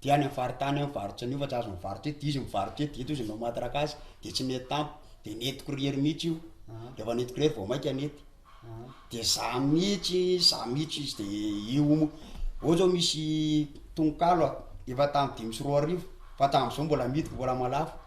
Dia any amin'ny faritany any varotra an'io fa tsy azo mivarotra eto, dia izy mivarotra eto, dia eto izy nanao matraque azy, dia tsy nety tampoka, dia nentiko irery mihitsy io, rehefa nentiko irery vao mainka nety, dia zah mihitsy, zah mihitsy izy dia io hono, ohatra hoe misy tononkalo aho efa tamin'ny dimy sy roa arivo fa hatramin'izao mbola midiko mbola mahalafo.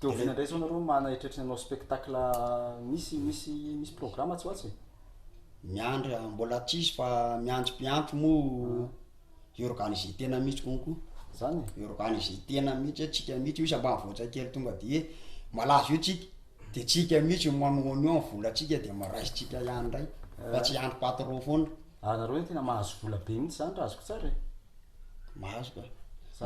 Dia oviana indray izao nareo mana eritreritry ny hanao spectacle misy misy misy programme atsy ho atsy e? Miandry a, mbola tsisy fa miandry mpiampy moa hi-organiser tena mihitsy konko, Zany e? hi-organiser tena mihitsy hoe tsika mihitsy io izy ambanivohitra kely tonga de hoe malaza io tsika de tsika mihitsy no manohana io amin'ny volantsika de ma- raisitsika ihany indray fa tsy hiandry patron foana. Ary nareo anie tena mahazo vola be mihitsy zany raha azoko tsara e? Mahazo ka.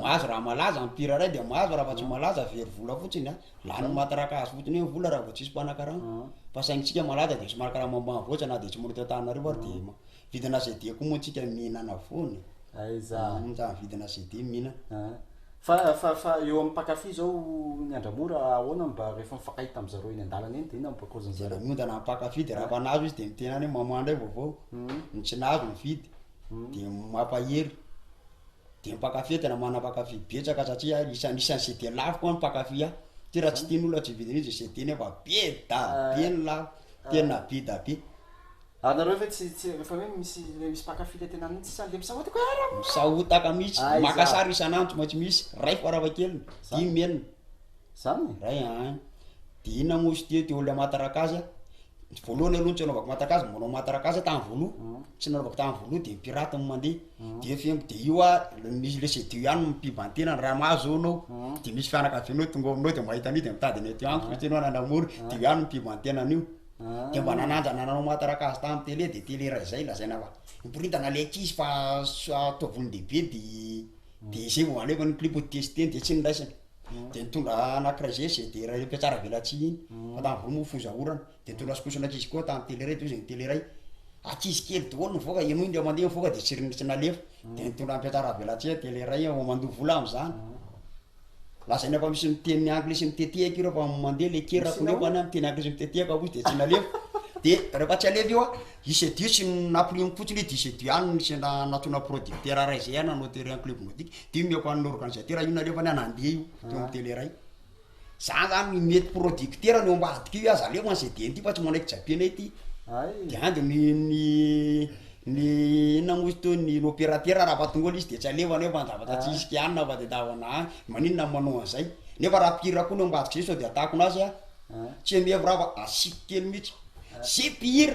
Mahazo raha malaza, empire ray dia mahazo raha fa tsy malaza very vola fotsiny a. Lany matraka azy fotsiny eo ny vola raha vao tsisy mpanakarama. Ah. Fa saintsika malaza dia somary karama ambanivohitra na dia tsy manao eto Antananarivo ary dia ma- vidina CD koa moa tsika mihinana foana e. Aiza. Uhm, raha vidina CD mihinana. Ah. Fa fa fa eo amin'ny mpankafy zao ny Andramora ahoana mba rehefa mifankahita am zareo eny an-dalana eny dia inona mba cause-ny Dia zareo? miondana amin'ny mpankafy dia raha efa nahazo izy dia ny tenany hoe mamoaha indray vaovao. Uhm. Ny tsy nahazo mividy. dia mampahery dia mpankafy tena manana mpankafy betsaka satria ahy isan'ny isan'ny izay dia laviko any mpankafy ahy ty raha tsy tian'olona tsy vidina izy izay tiany fa be da be ny lavo tena be da be Ary nareo ve tsy tsy efa hoe misy le misy mpankafy le tena mihitsy sa le misahotako hoe ara misahotaka mihitsy Aiza? maka sary isan'andro mantsy misy ray farafahakeliny Zany. dimy enina zany e? ray an dia inona moa izy teo teo le aman-tarakazy a Ny voalohany aloha ny tsy anaovako mataka azy mba manao mataraka azy tamin'ny voaloha tsy nanaovako tamin'ny voaloha de ny pirate no mandeha de efa eo de io a misy le seduo ihany no mipiban-tena ny raha mahazo eo anao de misy fianakavianao tonga ao aminao de mahita an'io de mitady ny aty amiko satria anao nanamory de io ihany no mipiban-tena an'io de mba nananja nanao mataraka azy tamin'ny tele de tele raha izay lazaina fa miboridana le ankizy fa s- ataovy olon-dehibe de de zay vao alefa ny clip ho tester de tsy ny raisiny. de nitondra anankiray zay zay de raha mpiatsara velatsihy iny fa tany voa moa foza orana de nitondra skoson ankizy koa tany tele iray de hozy ny tele iray ankizy kely daholo nivoaka ianao indray mandeha mivoaka de tsy ry tsy nalefa de nitondra mpiatsara velatsihy tele iray aho mandoa vola am'zany lazainy efa misy miteny anglisy mitetehaka ireo fa mandeha le kerako nefa any miteny anglisy mitetehaka hozy de tsy nalefa de rehefa tsy alefa io a i sedio tsy nampirimiko fotsiny hoe disedio ihany ny sendra nantsoina producteur ray zay a nanao tele en club nordique Dimy eo ko an'ny organisateur io nareo fa ny an'Andriey io teo amin'ny tele iray. Zany zany mety producteur ny eo ambadika io aza alefa ny CDN ity fa tsy manaiky japianay ity. De any de ny ny ny inona moa izy teo ny opérateur raha vao tonga eo le izy de tsy alefa an'io fa ny zavatra tsy hisy kianina fa de tavana any, maninona no manao an'zay? Nefa raha mpihira koa ny eo ambadika zay sao de atakona azy a, tsy hoe mihevra aho fa asiako kely mitsy, ze mpihira.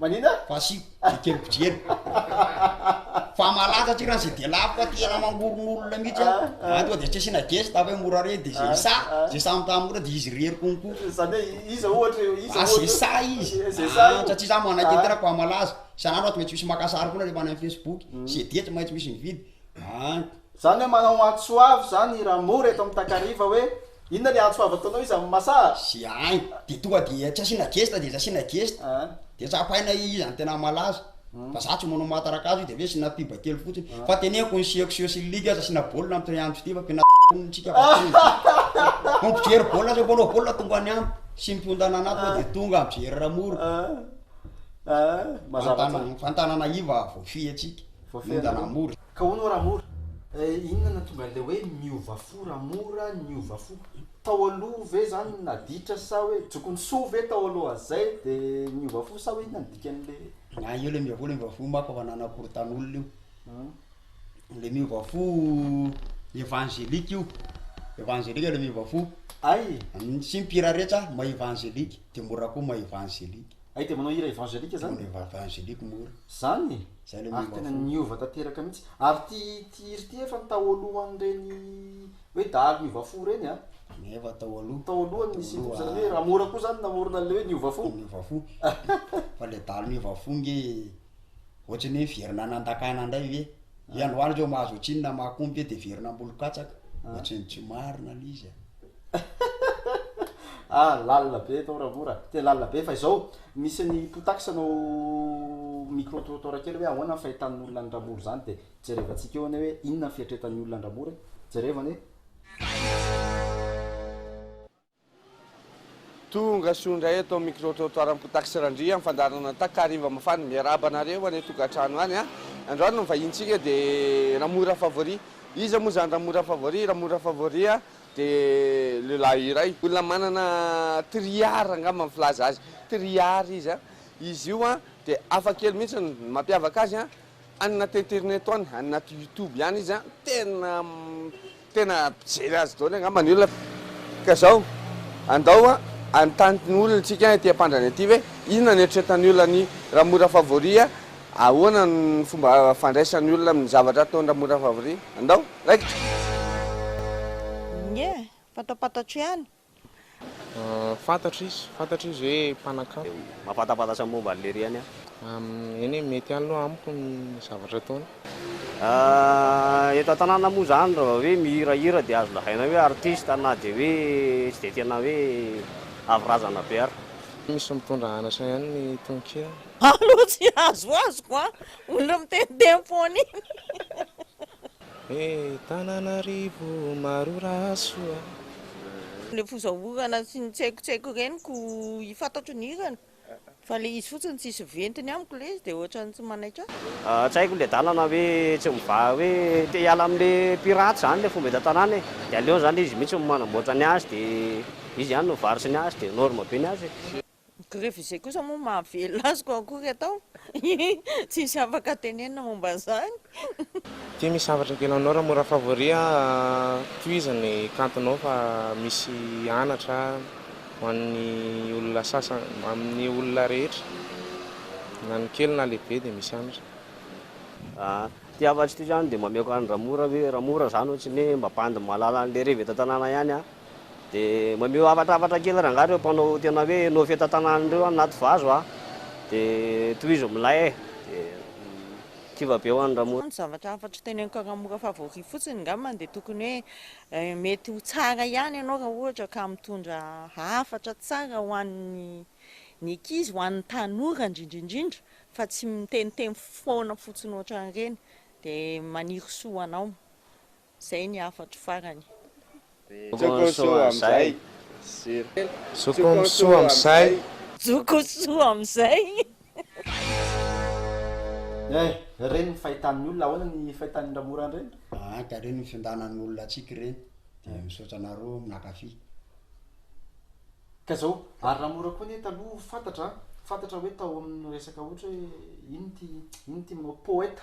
Manina? Fasy ekeny mpijely. Fa malaza aty raha zay dia lafo fa tena mamorona olona mihitsy a. Ah, ah. Toa dia tsy asiana geste fa hoe mora re dia zay ah, sa ah. zay samy tamin'ny mora dia izy irery konko. Zany hoe iza ohatra eo iza ohatra. Zay sa izy. Zay sa. Satria za manakeny tena koa malaza. Isan'andro ato maintsy misy maka sary foana rehefa any amin'ny Facebook. Hmm. Zay dia tsy maintsy misy mividy. Ah. Zany hoe manao antso avo zany i Ramora eto amin'ny Takariva hoe Inona ny antso avo ataonao izy amin'ny masaa? Ze ainy de tonga de tsy asiana gesta de tsy asiana gesta de tsapaina iza no tena malaza fa za tsy manao maha-tarakazo izy de aveo asiana pub kely fotsiny fa teneniko ny sieku sio sy ny ligue aza asiana baolina amin'ny trianto ty fa pena tsika fa tonga mijery baolina aza mpanao baolina tonga any amiko sy ny mpiondana anaty moa de tonga mijery ramoro fantanana iva voafehy antsika miondana mora Ka hono oa ramora eh, inona no tonga an'ilay hoe miova fo ramora niova fo? Tao aloha ve zany naditra sa hoe jokon'ny soa ve tao aloha zay de niova fo sa hoe inona no dikan'le Ay io le miova fo le miova fo ma fa fanana korotan'olona io le miova fo evangelique io evangelique le miova fo Ay e, tsy mpihira rehetra maha evangelique de mora koa maha evangelique ay de manao hira evangelique zany? Manao evangelique mora. Zany e! Ary tena niova tanteraka mihitsy. Ary ity hira ity efa taolohan'ireny hoe dahalo niova fo ireny a. Efa tao aloha. Tao aloha ny nisian'io fo zany hoe Ramora koa zany namorona an'ilay hoe niova fo. Niova fo. Fa ilay dahalo niova fo nge ohatran'ny hoe miverina nandankana indray ve? Hoe androany reo mahazo ohatrinona mahakompy hoe dia hiverina am-bolo katsaka. Ohatran'ny tsy marina ilay izy a. Ah lalina be eto ra mora, tena lalina be fa izao misy ny potax anao micro trottoir kely hoe ahoana ny fahitan'ny olona an'i ramora izany dia jerevantsika eo anie hoe inona ny fieritretan'ny olona an'i ramora e, jereva anie. Tonga soa indray eto amin'ny micro trottoir an'i potax randria amin'ny fandaharana takariva mafana, miarahaba anareo any an-tokantrano any a, androany ny vahinintsika dia ramora favori, iza moa izany ramora favori, ramora favori a, dia lehilahy iray, olona manana three ar angamba ny filaza azy, three ar izy an, izy io an dia hafa kely mihitsy, ny mampiavaka azy an, any anaty interneto any, any anaty youtube ihany izy an, tena tena mpijery azy daholo angamba ny olona, ka zao andao an hanontany ny olona tsika ety ampandrana ety ve inona ny eritreretan'ny olona ny Ramora Favori an, ahoana ny fomba fandraisan'ny olona amin'ny zavatra ataon'i Ramora Favori, andao. Raikitra. Inie eh, fantapatatro ihany. Fantatra izy, fantatra izy hoe mpanakanto. Mampatapatatsa ny momba an'lery ihany aho. Eny eh, mety ihany aloha amiko ny zavatra ataony. Eto an-tanàna moa izany raha vao hoe mihirahira dia azo lazaina hoe artista na dia hoe tsy dia tena hoe avy razana be ary. Misy mitondra anatra ihany ny tononkira. Aho aloha tsy azoazoko an, olona miteniteny foana iny. He Tananarivo maro raha soa. Le foza orana sy ny tsaikotsaiko ireny ko i fantatro ny hirany fa le izy fotsiny tsisy ventiny amiko le izy de ohatrany tsy manaiky ahy. Tsy haiko le dalana hoe tsy mivaha hoe te hiala amle pirate zany le fomba eto an-tanàna e! de aleony zany izy mihitsy no manamboatra ny azy de izy ihany no mivarotra ny azy de norme be ny azy e! Ny grevy izay kosa moa mahavelona azy koa akory atao tsisy afaka tenenina momba izany. Ty misy hafatra kely anao ra mora favori a tohizo ny kantonao fa misy anatra ho an'ny olona sasany amin'ny olona rehetra na ny kely na lehibe dia misy anatra. Ahh ty hafatry ty zany de mameoko any ramora ve ramora zany ohatry ny hoe mba bandy mahalala anle revy eto an-tanàna ihany an! Dia mameo havatr'avatra kely rangahy ireo mpanao tena hoe no fitantanana ireo anaty vazo a! Dia tohizo milay e! Dia kiva be ho an'i Ramose. Ny zavatra hafa tsy teneniko haramora favori fotsiny ngamba dia tokony hoe mety ho tsara ihany ianao raha ohatra ka mitondra hafatra tsara ho an'ny ny ankizy, ho an'ny tanora indrindra indrindra fa tsy miteniteny foana fotsiny ohatran'ireny dia maniry soa ho anao. Zay ny hafatro farany. Jokonsoa amzay Jokonsoa amzay. Jokonsoa amzay. Eh! Reny ny fahitan'ny olona, ahoana ny fahitan'i Ramora an'ireny? Aa ka ireny ny fiondànan'ny olona antsika ireny dia misaotra anareo mpakafy. Ka zao ary Ramora koa anie taloha fantatra an, fantatra hoe tao amin'ny resaka ohatra hoe inn ity, inn ity manao poète.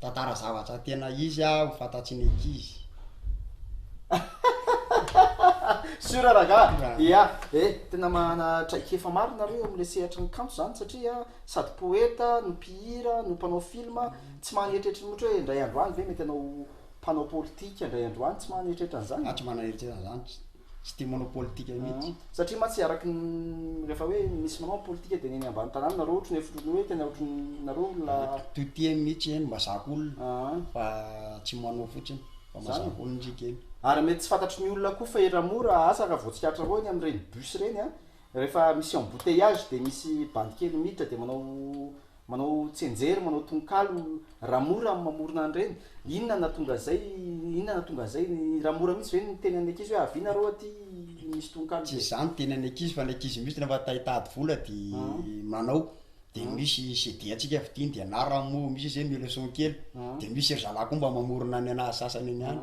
Tantara zavatra tena izy ah ho fantatry ny ankizy. Sûr rangaha, ya e, tena manana traikefa maro nareo eo amin'ilay sehatry ny kanto zany satria sady poeta no mpihira no mpanao film, tsy maha an'eritreritra mihotry hoe indray andro any ve mety anao mpanao politika indray andro any, tsy maha an'eritreritra an'zany e. Za tsy maha an'eritreritra an'zany. Tsy dia manao politika mihitsy. Satria mantsy araka ny rehefa hoe misy manao ny politika dia ny eny ambany tanàna nareo ohatry ny efa ohatry ny hoe tena ohatry ny nareo olona. Toa tia eny mihitsy eny mazaka olona fa tsy manao fotsiny fa mazaka olona isika eny. Ary mety tsy fantatry ny olona koa fa ery mora asa raha vao tsikaritranareo eny amin'ireny bus ireny an, rehefa misy embouteillage dia misy bandy kely miditra dia manao Manao tsianjery, manao tononkalo ra mora am mamorona an'ireny, inona natonga an'izay, inona natonga an'izay, ra mora mihintsy ve ny tenan'ny ankizy hoe avia nareo aty misy tononkalo be. Tsy izany ny tenan'ny ankizy fa ny ankizy mihintsy rehefa te hitady vola de manao, de misy CD antsika vidiany de na raha mo misy izy hoe mihaino son kely, de misy ry zalahy koa mba mamorona ny anazy sasany any ihany.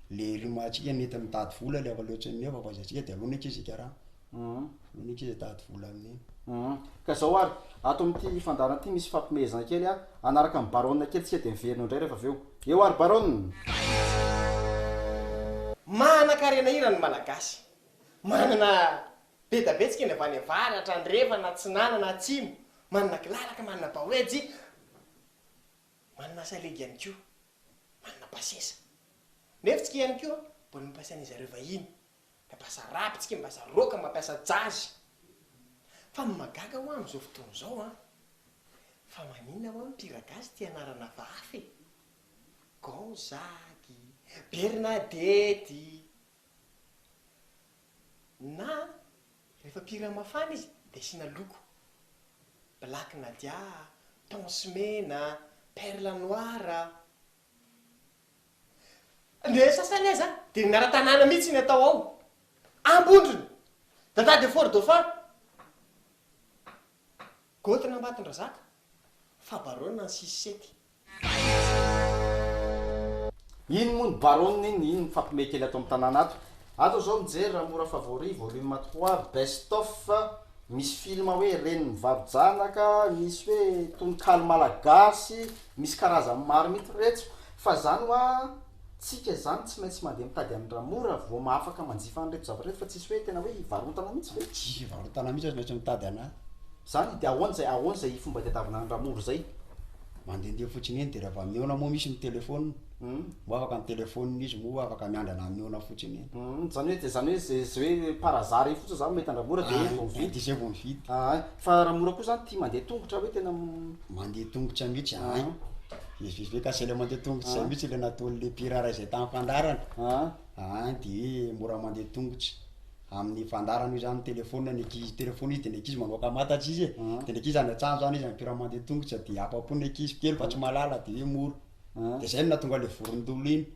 le rimatsika nety mitady vola le avaleontsika nefa avaizatsika de alona eky zika raha alona eky zitady vola aminy ka zao ary ato amity fandaharana ty misy fampimehezana kely a hanaraka any baronne kely tsika de miverina eo ndray refa aveo eo ary baronne. Manan-karena hira ny Malagasy. Manana bedabe tsika ny avy any avaratra, andrefana, atsinanana, atsimo. Manana kilalaka, manana baoejy, manana salegy ihany koa. manana basesa. Nefa tsika ihany koa mbola mampiasa an'izy areo vahiny, mampiasa rap tsika, mampiasa rock, mampiasa jazz. Fa ny mahagaga hoa amin'izao fotoana izao an, fa maninona hoa ny mpihira gasy tia anarana hafahafa e? Gonzague, Bernadette, Na rehefa pirina mafana izy dia asiana loko, black nadia, tons mena, perle noir. Ny sasany aza dia ny anaran-tanàna mihitsy no atao ao. Ambondrona, Dada de Fort-Dauphin. Goty n'Ambatondrazaka, fa Baronne any Sisisety. Iny moa ny Baronne iny, iny mifampime kely ato amin'ny tanàna ato. Ato izao mijery raha mora favori volume trois best of misy film hoe reny mivaro-janaka, misy hoe tononkalo malagasy, misy karazany maro mihitsy retso fa zany hoa tsika zany tsy maintsy mandeha mitady an'i Ramo raha vao mahafaka manjifa an'ireto zavatra ireto fa tsisy hoe tena hoe hivarotana mihitsy ve? Tsy hivarotana mihitsy aza maintsy mitady anazy. Zany de ahoana zay, ahoana zay fomba itadiavana an'i Ramo ry zay? Mandendeha fotsiny eny de raha vao mihaona moa misy ny telephone, moa afaka ny telephone izy moa afaka miandrana mihaona fotsiny eny. Hum, zany hoe de zany hoe ze ze hoe par hasard eny fotsiny zany mahita an'i Ramo raha de vao mividy. De zay vao mividy. Ahay, fa Ramo koa zany tia mandeha tongotra hoe tena. Mandeha tongotra mihitsy, ahay. Vezivezy ka zela mandeha tongotra izay mihitsy ilay nataon'ilay mpiraharaha izay tamin'ny fandaharana an, dia mora mandeha tongotra amin'ny fandaharana io izany ny telefaonina ny ankizy, telefaonina izy dia ny ankizy manao kamantatra izy e, dia ny ankizy any an-tsaha izany izy mpiraharaha mandeha tongotra dia afa-po ny ankizy kely fa tsy mahalala dia hoe mora, dia izay no nahatonga ilay vorondolo iny.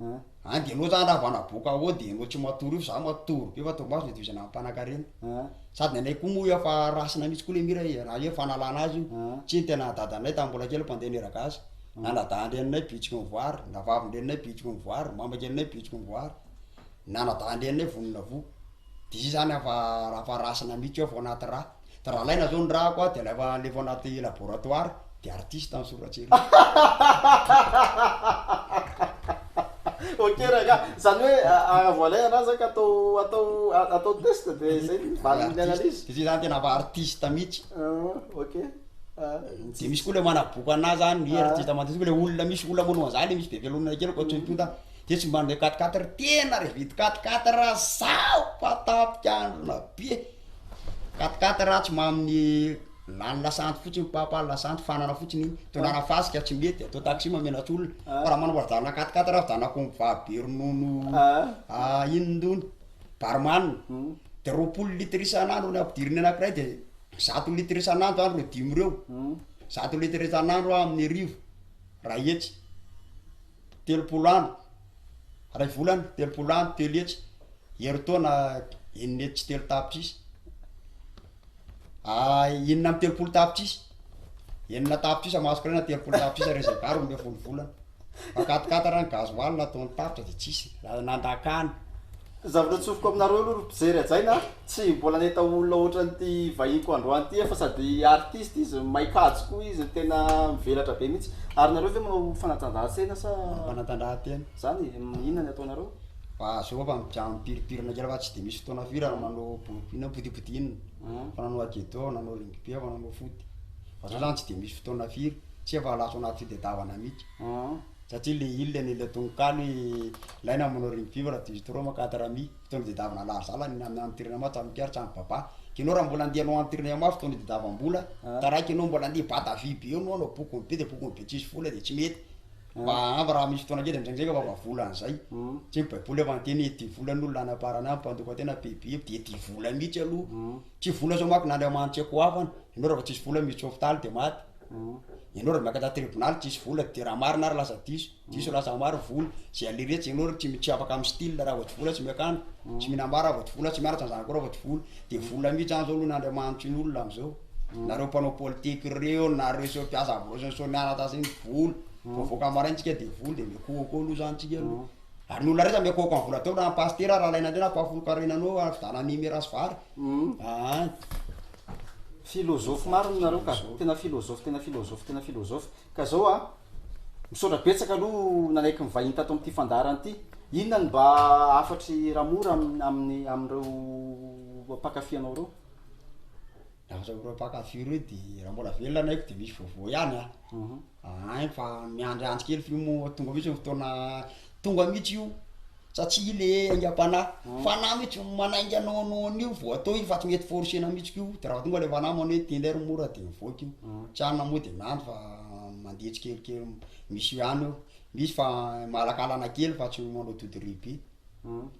An. An de enao zany raha vao naboaka ao de enao tsy matory io fa za matory be fa torimaso le division ampanankarena. An. Sady ny anay koa moa efa race-na mihitsy koa le mira e, raha hoe fanalana azy io. An. Tsy ny tena dadanay tamin'ny mbola kely mpandeha niragasy. Na na dahan-dreninay bitsiky ny voary, na vavin-dreninay bitsiky ny voary, maman-kelinay bitsiky ny voary, na na dahan-dreninay vonona voa. Dia izy zany ava raha fa raisina mihitsy eo vao anaty ra. Dia raha alaina zao ny rako a, dia alefa alefa ao anaty laboratoire, dia artiste ny soratry ery. Ok rangah, zany hoe raha vao alaina ra zany ka atao atao atao test dia zay ny valin'ny Artiste, analyse. dia zay zany tena ava artiste mihitsy. Ah ok, ah Dia misy koa le manaboaka anazy zany, hoe artiste mandeha, saingy le olona misy olona manao an'zany le misy be velonona kely koa tsoim-ponta. Dia tsy mba handeha quatre quatre tena re vide quatre quatre zao fa tapik'androna be quatre quatre atsy mamin'ny lany lasanty fotsiny papa lasanty fanana fotsiny iny tondrana fasika tsy mety atao taxi mamenatr'olona ah. fa raha manambola janona quatre quatre raha janona comva be ronono ah. ah, iny ndony barman hmm. de roapolo litre isan'andro ny ampidiriny anakiray de zato litre isan'andro andro reo dimy reo hmm. zato litre isan'andro amin'ny arivo raha etsy telopolo andro, iray volana, telopolo andro, telo hetsy, herintaona, enina hetsy sy telo tapitrisa. Ah, inona amin'ny telopolo tapitrisa? Enina tapitrisa masoko iray na telopolo tapitrisa ireo izay vary omeo folo volana. Fa katikata raha ny gasoil na ataony tapitra dia tsisy, na- nandrakany. Zavatra atsofoka aminareo aloha ry mpijery hajaina a! Tsy mbola nahita olona ohatran'ity vahiniko androany ity aho fa sady artiste izy, mahay kajy koa izy, tena mivelatra be mihitsy. Ary nareo ve manao fanatanjahantena sa? Fanatanjahantena. Zany e, inona ny ataonareo? Fa zao fa mijanona mipirimpirina kely fa tsy dia misy fotoana firy ary manao bol- inona botiboty inona, fa nanao agedo aho, nanao rugby aho, nanao foot. Fa zao zany tsy dia misy fotoana firy, tsy efa lasa ao anaty fitadiavana mihitsy. satria le il le nil tononkalo i laina manao rime vivre raha diso trop ma quatre ami fotoana diedavana lary zala ny amin'ny antirina ma tsamy kary tsamy baba kinao raha mbola andeha anao antirina eo ma fotoana diedavana mbola taraiko ianao mbola andeha bata vy be eo no anao bokony be de bokony be tsisy vola de tsy mety mba ampy raha misy fotoana kely ndraindraika fa mba vola an'izay tsy ny baiboly efa niteny hoe tia vola no lana parana amin'ny mpandoka tena be be de tia vola mihitsy aloha tsy vola zao manko na andriamanitse koa hafana ianao raha vao tsisy vola miditra hopitaly de maty Ianao raha miakatra tribonaly tsisy vola de raha marina ary lasa diso, diso lasa maro vono, ze alire tsy ianao tsy tsy afaka amin'ny style raha vao tsy vola tsy miakandro, tsy mihinam-bary raha vao tsy vola tsy mianatra ny zanakao raha vao tsy vola, de vola mihitsy zany zao aloha ny andriamanitry ny olona am'zao, nareo mpanao politique reo, nareo sy reo mpiasa ambroso sy reo mianatra zay ny vola, vao voaka maraina tsika de vola de miakoakoa aloha zany tsika aloha, ary ny olona rehetra miakoakoa amin'ny vola ataony raha ny pasitera raha alaina teo na mpahafolon-karena anao fividianana ny mera sy vary, Aany. Philosophe marina nareo ka. Tena philosophe tena philosophe tena philosophe. Ka zao a, misaotra betsaka aloha nanaiky nivahiny tato amin'ity fandaharana ity. Inona no mba hafatry Ramora amin'ny amin'ny amin'ireo mpankafy anao ireo? Raha amin'ireo mpankafy ireo dia raha mbola velona ny aiko dia misy vaovao ihany a. Ahay fa miandry andry kely f'io moa tonga mihitsy ny fotoana tonga mihitsy io satsia le aingam-panahy fanahy mihitsy manainga anao anao an'io vao atao io fa tsy mety forcer-na mihitsy ko de raha tonga le fanahy manao hoe telo heures mora de mivoaka io tsy any na moa de miandry fa mandeha tsikelikely misy ihany eo misy fa malakalana kely fa tsy manao dodoribe.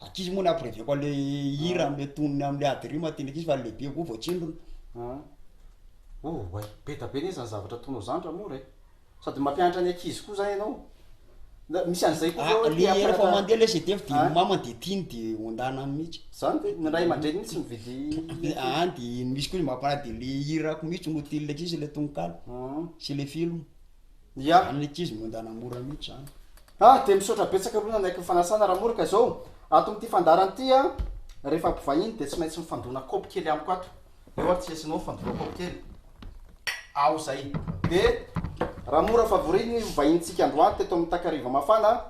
Ankizy moa ny ampireviako an'le hira am'le tonony am'le ady rima tian'ny ankizy fa ny lehibe koa voatsindrona. An! Oh oay! Be da be ne zany zavatra ataonao zany ra mora e! Sady mampianatra ny ankizy koa zany ianao. Na misy an'izay koa ve hoe te hampianatra. Rehefa mandeha le CD f'de ny mamany de tiany de ondana mihitsy. Zany ve? Ny ray aman-dreny mihitsy mividy le. An! de misy koa izy mampanahy de le hirako mihitsy no tian'le ankizy le tononkalo sy le film. Ya ny ankizy no endana mora mihitsy zany. Ah dia misaotra betsaka aloha nanaiky ny fanasana Ramoro ka izao ato amin'ity fandaharana ity a rehefa mpivahiny dia tsy maintsy mifandona kaopy kely amiko ato eo ary tsy lesinao mifandona kaopy kely aho izay dia Ramoro favori ny vahinintsika androany teto amin'ny takariva mafana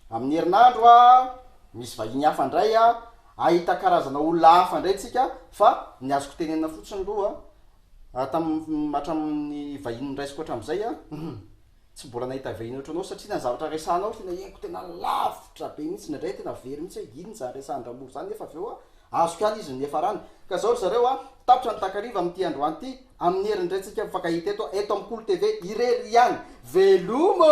amin'ny herinandro a misy vahiny hafa indray a ahita karazana olona hafa indray tsika fa ny azoko tenenina fotsiny aloha Hatramin'ny hatramin'ny vahiny noraisiko hatramin'izay aho, tsy mbola nahita vahiny ohatranao satria na ny zavatra resahanao tena henoko tena lavitra be mihitsy, indraindray aho tena very mihitsy hoe inona izany resahan-dRamoro izany nefa avy eo aho azoko ihany izy no niafarany. Ka izao ry zareo a! tapitra ny takariva amin'ity androany ity amin'ny herin'ny Raintsika mifankahita eto, eto amin'ny Kolo TV irery ihany. Veloma!